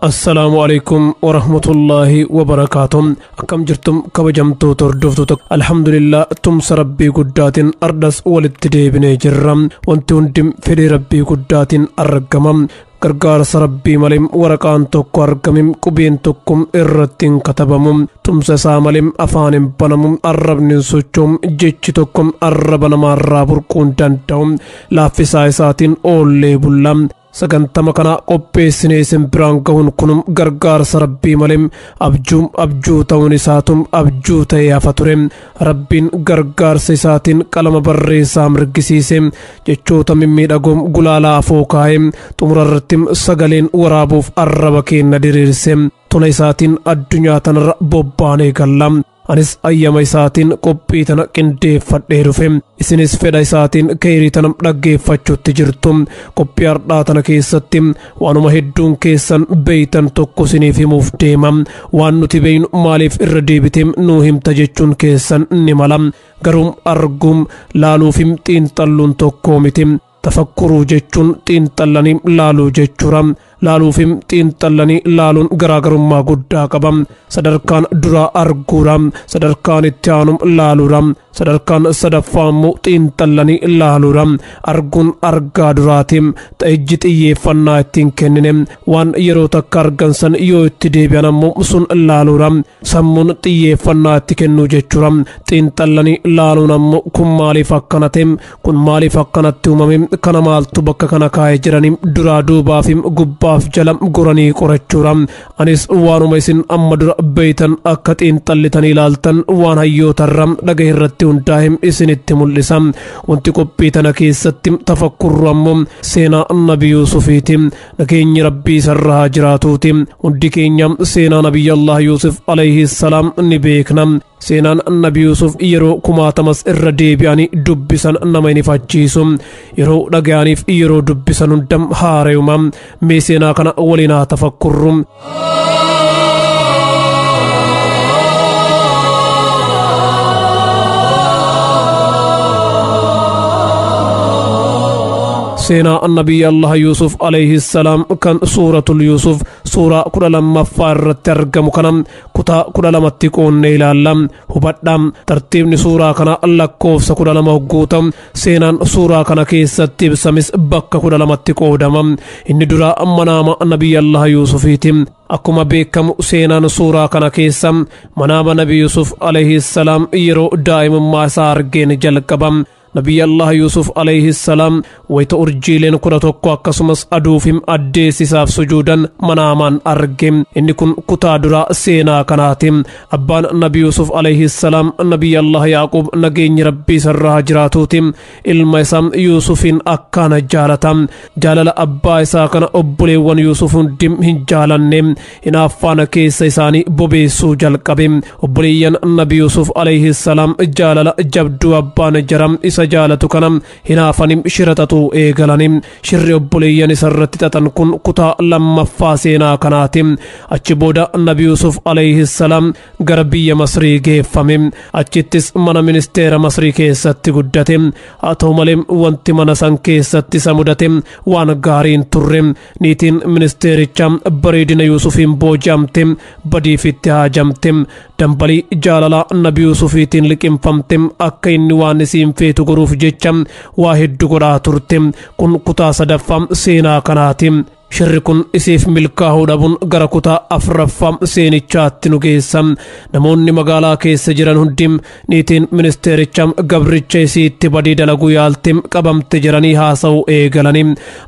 assalaamu alaikum warahmatullaahi wabarakaatu akkam jirtum kabajamtoota hordoftoota alhamdulillah tumsa rabbii guddaatiin ardhas walitti deebinee jirra wanti hundi fedhii rabbii guddaatiin argama gargaarsa rabbii malee waraqaan tokko argame qubeen tokko irratti hin katabamu tumsa isaa malee afaan hin banamu arrabni hin sochoomu jechi tokko arraba namaa irraa burquu hin danda'u laaffisaa isaatiin oollee bulla sagantama kana qopheessinee isin biraan gahuun kun gargaarsa rabbii malee abjuu abjuu ta'uun isaatu abjuu ta'ee hafa ture Rabbiin gargaarsa isaatiin qalama barreessaa mirgisiise jechoota mimmiidhagoom gulaalaa afoo kaa'e xumura irratti sagaleen waraabuuf arraba keenna diriirse tola isaatiin addunyaa tanarra bobbaanee galla anis ayyama isaatiin qophii tana qindeeffadhee dhufe isinis fedha isaatiin keeyrii tana dhaggeeffachuutti jirtu qophii hardhaa tana keessatti waanuma hedduun keessan beeytan tokko isiniif himuuf deema waan nuti beeynu maaliif irra deebiteem nuu himta jechuun keessan ni mala garuu arguum laaluufim xiinxalluun tokkoo miti tafakkuruu jechuun xiinxallanii laaluu jechuudha laaluufim xiinxallanii laaluun garaagarummaa guddaa qaba sadarkaan duraa arguudha sadarkaan itti aanum laaluudha Sadarkaan sadaffaa immoo xiinxallanii ilaaluudha. Arguun argaa duraati. Ijji xiyyeeffannaa ittiin kennine waan yeroo takka argan san yoo itti deebi'an ammoo sun ilaaluudha. Sammuun xiyyeeffannaa itti kennuu jechuudha. Xiinxallanii ilaaluun ammoo kun maaliif akkana ta'e? Kun maaliif akkanatti uumame? Kana maaltu bakka kana kaa'e jedhanii duraa duubaaf gubbaaf jala goranii qorachuudha. Anis waanuma isin amma dura beeytan akka xiinxallitanii ilaaltan waan hayyootarra dhagahe irratti hundaa'e isinitti mul'isa. Wanti qophii tana keessatti tafakkurru ammoo seenaa Nabi Yuusufiiti. Nageenyi Rabbii isarra haa jiraatuuti. Hundi keenya seenaa Nabiyyi Allah Yuusuf alayhi salaam ni beekna. Seenaan Nabi Yuusuf yeroo kumaatamas irra deebi'anii dubbisan nama hin ifachiisu. Yeroo dhaga'aniif yeroo dubbisan hundam haarayuma. Mee seenaa kana waliin haa tafakkurru. seenaa annabiyyi allaha yuusuf alayhi salaam kan suuratul yuusuf suuraa kudha lammaffaa irratti argamu kana kutaa kudha lamatti qoonnee ilaalla hubadha tartiibni suuraa kana lakkoofsa kudha lama hogguu ta'u seenaan suuraa kana keessatti ibsames bakka kudha lamatti qoodama inni dura manaama nabii allah yuusufiiti akkuma beekamu seenaan suuraa kana keessa manaama nabii yuusuf alayhi salaam yeroo daa'imummaa isaa argeen jalqaba Nabii Allah Yuusuf alayhi salaam wayta urjiileen kudha tokko akkasumas aduufim addeessisaaf sujuudan manaamaan arge inni kun kutaa duraa seenaa kanaati abbaan nabi Yuusuf alayhi salaam nabii Allah Yaaqub nageenyi rabbii sarraa jiraatuuti ilma isaa Yuusufiin akkaana jaalata jaalala abbaa isaa kana obboleewwan Yuusuf hundi hin jaalanne hinaaffaan keessa isaanii bobeessuu jalqabe obboleeyyan nabi yuusuf alayhi salaam jaalala jabduu abbaan jara isa jaalatu kana hinaafanii shira xaxuu eegalani shirri obboleeyyan isa irratti xaxan kun kutaa lammaffaa seenaa kanaati achi booda nabi yuusuf alayhi salaam gara biyya masrii geeffame achittis mana ministeera masrii keessatti guddate haa ta'u malee wanti mana san keessatti isa mudate waan gaariin turre Niitiin ministeericha bareedina Yuusufiin booji'amte badiifitti haajamte. Dambalii jaalalaa Nabi Yuusufiitiin liqimfamte akka inni waan isiin feetu godhuuf jecha waa heddu godhaa turte. Kun kutaa sadaffaa seenaa kanaati. Shirri kun isiif milkaahuu dhabuun gara kutaa afraffaa seenichaatti nu geessa. Namoonni magaalaa keessa jiran hundi Niitiin ministeericha gabricha isiitti badii dalaguu yaalte qabamte jedhanii haasa'uu eegalanii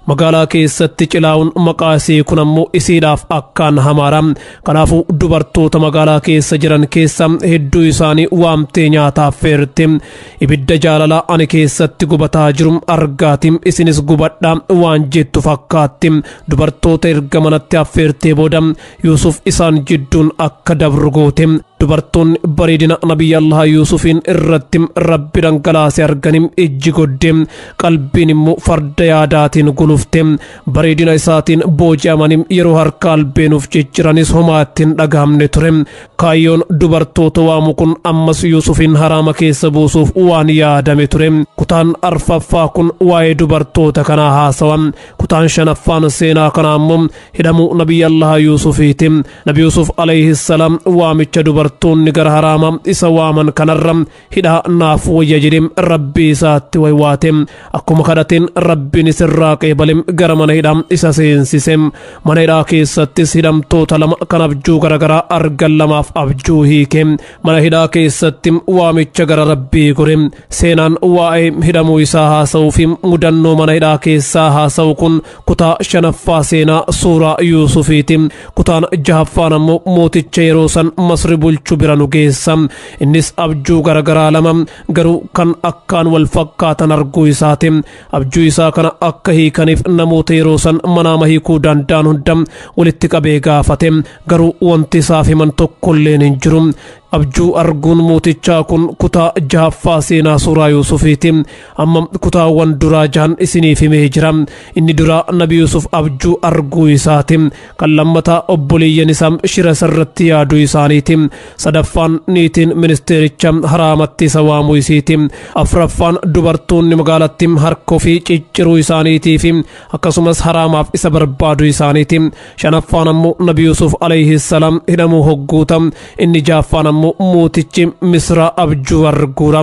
magaalaa keessatti cilaa'uun maqaa isii kun ammoo isiidhaaf akkaan hamaadha. Kanaafuu dubartoota magaalaa keessa jiran keessa hedduu isaanii waamtee nyaata affeerte. Ibidda jaalalaa ani keessatti gubataa jiru argaati isinis gubadha waan jettu fakkaatti. Dubartoota erga manatti affeertee booda Yuusuf isaan jidduun akka dabru goote dubartoonni bareedina nabiyyi allaha yuusufiin irratti rabbi dhangalaase arganii ijji godde qalbiin immoo farda yaadaatiin gulufte bareedina isaatiin booji'amanii yeroo harka albeenuuf cicciranis homaatti hin dhagahamne ture kaayyoon dubartoota waamu kun ammas yuusufiin haraama keessa buusuuf waan yaadame ture kutaan arfaffaa kun waa'ee dubartoota kanaa haasawa kutaan shanaffaan seenaa kanaa immoo hidhamuu nabiyyi allaha yuusufiiti nabi yuusuf alayhissalaam waamicha dubartoonni gara haraama isa waaman kanarra hidhaa naaf wayya jedhe rabbii isaatti waywaate akkuma kadhateen rabbiin isirraa qeebale gara mana hidhaa isa seensise mana hidhaa keessattis hidhamtoota lama kan abjuu garagaraa argan lamaaf abjuu hiike mana hidhaa keessatti waamicha gara rabbii gore seenaan waa'ee hidhamuu isaa haasa'uu fi mudannoo mana hidhaa keessaa haasa'u kun kutaa shanaffaa seenaa suuraa yuusufiiti kutaan jahaffaan ammoo mooticha yeroo san masri bulchu bira nu geessa innis abjuu garagaraa lama garuu kan akkaan wal fakkaatan arguu isaati abjuu isaa kana akka hiikaniif namoota yeroo san manaama hiikuu danda'an hunda walitti qabee gaafate garuu wanti isaaf himan tokkolleen hin jiru abjuu arguun mootichaa kun kutaa jahaffaa seenaa suuraa yuusufiiti Amma kutaawwan duraa jahan isiniif himee jira. Inni duraa Nabi Yuusuf abjuu arguu isaati. Kan lammataa obboleeyyan isaa shira isarratti yaaduu isaaniiti. Sadaffaan niitiin ministeericha haraamatti isa waamuu isiiti. Afraffaan dubartoonni magaalatti harka ofii cicciruu isaaniitii fi akkasumas haraamaaf isa barbaaduu isaaniiti. Shanaffaan ammoo Nabi Yuusuf alayhi salaam hidhamuu hogguuta. Inni jaaffaan ammoo mootichi Misraa abjuu arguura.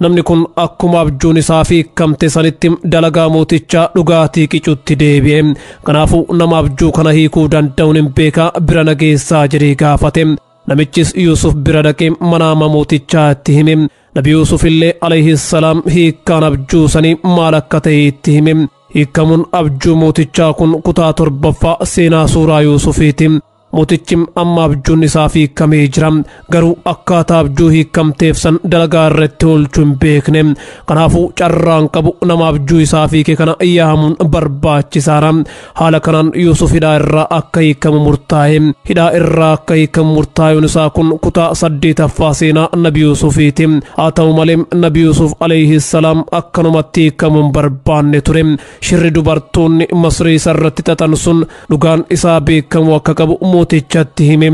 Namni kun akkuma abjuun isaa fi kamte sanitti dalagaa mootichaa dhugaatii qicutti deebi'e. Kanaafuu nama abjuu kana hiikuu danda'uun hin beekaa bira na geessaa jedhee gaafate. Namichis Yuusuf bira dhaqee manaama mootichaa itti hime. Nabi Yuusuf illee alayhi salaam hiikkaan abjuu sanii maal akka ta'e itti hime. Hiikkamuun abjuu mootichaa kun kutaa torbaffaa seenaa suuraa Yuusufiiti. Mootichi amma abjuun isaaf hiikamee jira. Garuu akkaataa abjuu hiikamteef san dalagaa irratti oolchuu hin beekne. Kanaafuu carraan qabu nama abjuu isaaf hiike kana yaamuun barbaachisaadha. Haala kanaan Yuusuf hidhaa irraa akka hiikamu murtaa'e. Hidhaa irraa akka hiikamu murtaa'uun isaa kun kutaa saddeetaffaa seenaa Nabi Yuusufiiti. Haa ta'u malee Nabi Yuusuf alayhi salaam akkanumatti hiikamuu hin barbaanne ture. Shirri dubartoonni Masrii isarratti xaxan sun dhugaan isaa beekamuu akka qabu mootichatti hime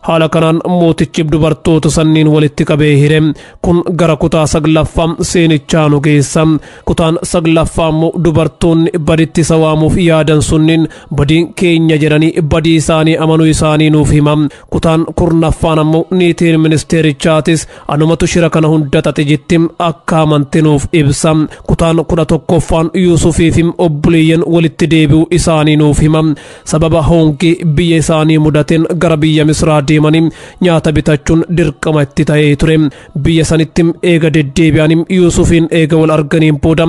haala kanaan mootichi dubartoota sanniin walitti qabee hire kun gara kutaa saglaffaa seenichaa nu geessa kutaan saglaffaa immoo dubartoonni baditti isa waamuuf yaadan sunniin badiin keenya jedhanii badii isaanii amanuu isaanii nuuf hima Kutaan kurnaffaan ammoo niitiin ministeerichaatis anumatu shira kana hunda xaxe jetti akka amanti nuuf ibsa. Kutaan kudha tokkoffaan Yuusufii fi obboleeyyan walitti deebi'uu isaanii nuuf hima. Sababa hoongii biyya isaanii mudateen gara biyya Misraa deemanii nyaata bitachuun dirqama itti ta'ee ture. biyya sanitti eega deddeebi'anii yuusufiin eega wal arganiin booda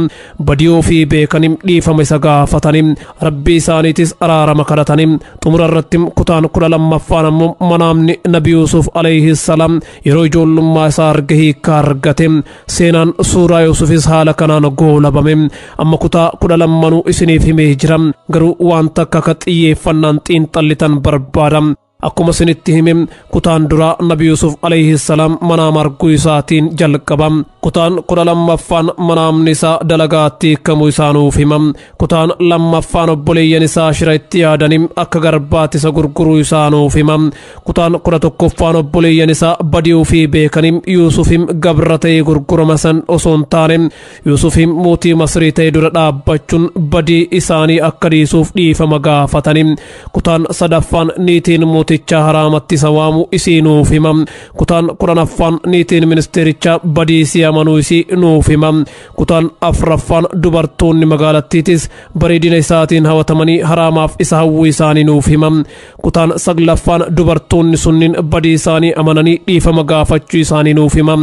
badii ofii beekanii dhiifama isa gaafatanii rabbii isaaniitis araarama kadhatanii xumura irratti kutaan kudha lammaffaan ammoo manaamni nabi yuusuf alayhi salaam yeroo ijoollummaa isaa arge hiikkaa argate seenaan suuraa yuusufis haala kanaan goolabame amma kutaa kudha lammanuu isiniif himee jira garuu waan takka akka xiyyeeffannaan xiinxallitan barbaada Akkuma isinitti hime kutaan duraa Nabi Yusuf alayhi salaam manaama arguu isaatiin jalqaba. Kutaan kudha lammaffaan manaamni isaa dalagaatti hiikamuu isaa nuuf hima. Kutaan lammaffaan obboleeyyan isaa shira itti yaadanii akka garbaatti isa gurguruu isaa nuuf hima. Kutaan kudha tokkoffaan obboleeyyan isaa badii ofii beekanii Yuusufim gabra ta'ee gurgurama san osoo hin taane Yuusufi mootii Masrii ta'e dura dhaabbachuun badii isaanii akka dhiisuuf dhiifama gaafatani. Kutaan sadaffaan niitiin mootichaa haraamatti isa waamu isii nuuf hima. Kutaan kudhanaffaan niitiin ministeerichaa badii isii amanuu isii nuuf hima. Kutaan afraffaan dubartoonni magaalattiitis bareedina isaatiin hawatamanii haraamaaf isa hawwuu isaanii nuuf hima. Kutaan saglaffaan dubartoonni sunniin badii isaanii amananii dhiifama gaafachuu isaanii nuuf hima.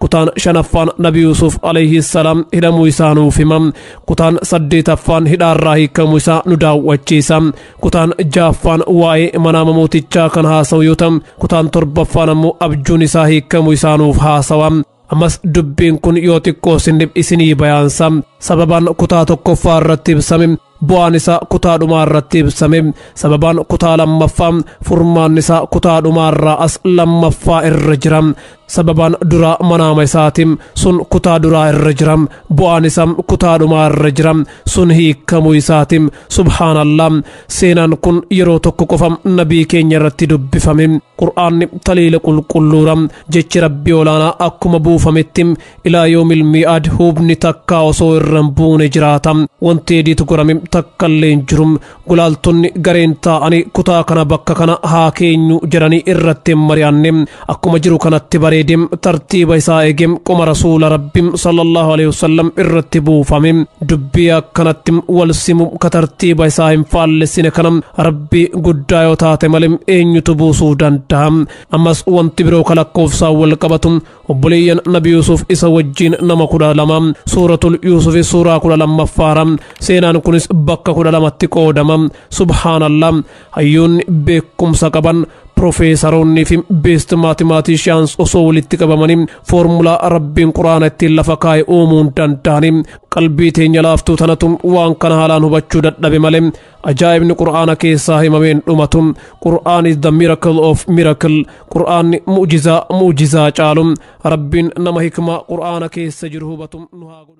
kutaan shanaffaan nabi yuusuf alayhi salaam hidhamuu isaa nuuf hima kutaan saddeetaffaan hidhaarraa hiikamuu isaa nu daawwachiisa kutaan jaaffaan waa'ee manaama mootichaa kan haasa'u yoo ta'u kutaan torbaffaan ammoo abjuun isaa hiikamuu isaa nuuf haasawa ammas dubbiin kun yoo xiqqoo sinif isinii bayaansa sababaan kutaa tokkoffaa irratti ibsame bu'aan isaa kutaa dhumaa irratti ibsame sababaan kutaa lammaffaa furmaan isaa kutaa dhumaa irraa as lammaffaa irra jira Sababaan duraa manaama isaati, sun kutaa duraa irra jira. Bu'aan isaa kutaa dhumaa irra jira, sun hiikkamuu isaati. Subhaanallah! Seenaan kun yeroo tokko qofa nabii keenya irratti dubbifame. Qur'aanni taliila qulqulluura. Jechi Rabbi olaanaa akkuma buufametti ilaa yoomil mii'aad hubni takkaa osoo irra hin buune jiraata. Wanti ediit godhame takkallee hin jiru. Gulaaltonni gareen taa'anii kutaa kana bakka kana haa keenyu jedhanii irratti hin mari'anne akkuma jiru kanatti bareedem tartiiba isaa eegem qoma rasuula rabbim sallallahu alaihi wasallam irratti buufame dubbii akkanatti wal simu ka tartiiba isaa hin faallessine kana rabbi guddaa yoo taate malee eenyutu buusuu danda'a ammas wanti biroo ka lakkoofsaan wal qabatu obboleeyyan nabi yuusuf isa wajjiin nama kudha lama suuratul yuusufi suuraa kudha lammaffaara seenaan kunis bakka kudha lamatti qoodama subhaanallah hayyoonni beekumsa qaban profeesaroonnii fi beest maatimaatiishiyaans osoo walitti qabamanii foormulaa rabbiin quraana ittiin lafa kaa'e uumuun danda'anii qalbii teenya laaftuu tanatu waan kana haalaan hubachuu dadhabe malee ajaa'ibni qur'aana keessaa himameen dhumatu qur'aan is the miracle of miracle qur'aanni mu'jizaa mu'jizaa caalu rabbiin nama hikmaa qur'aana keessa jiru hubatu nu haa godhu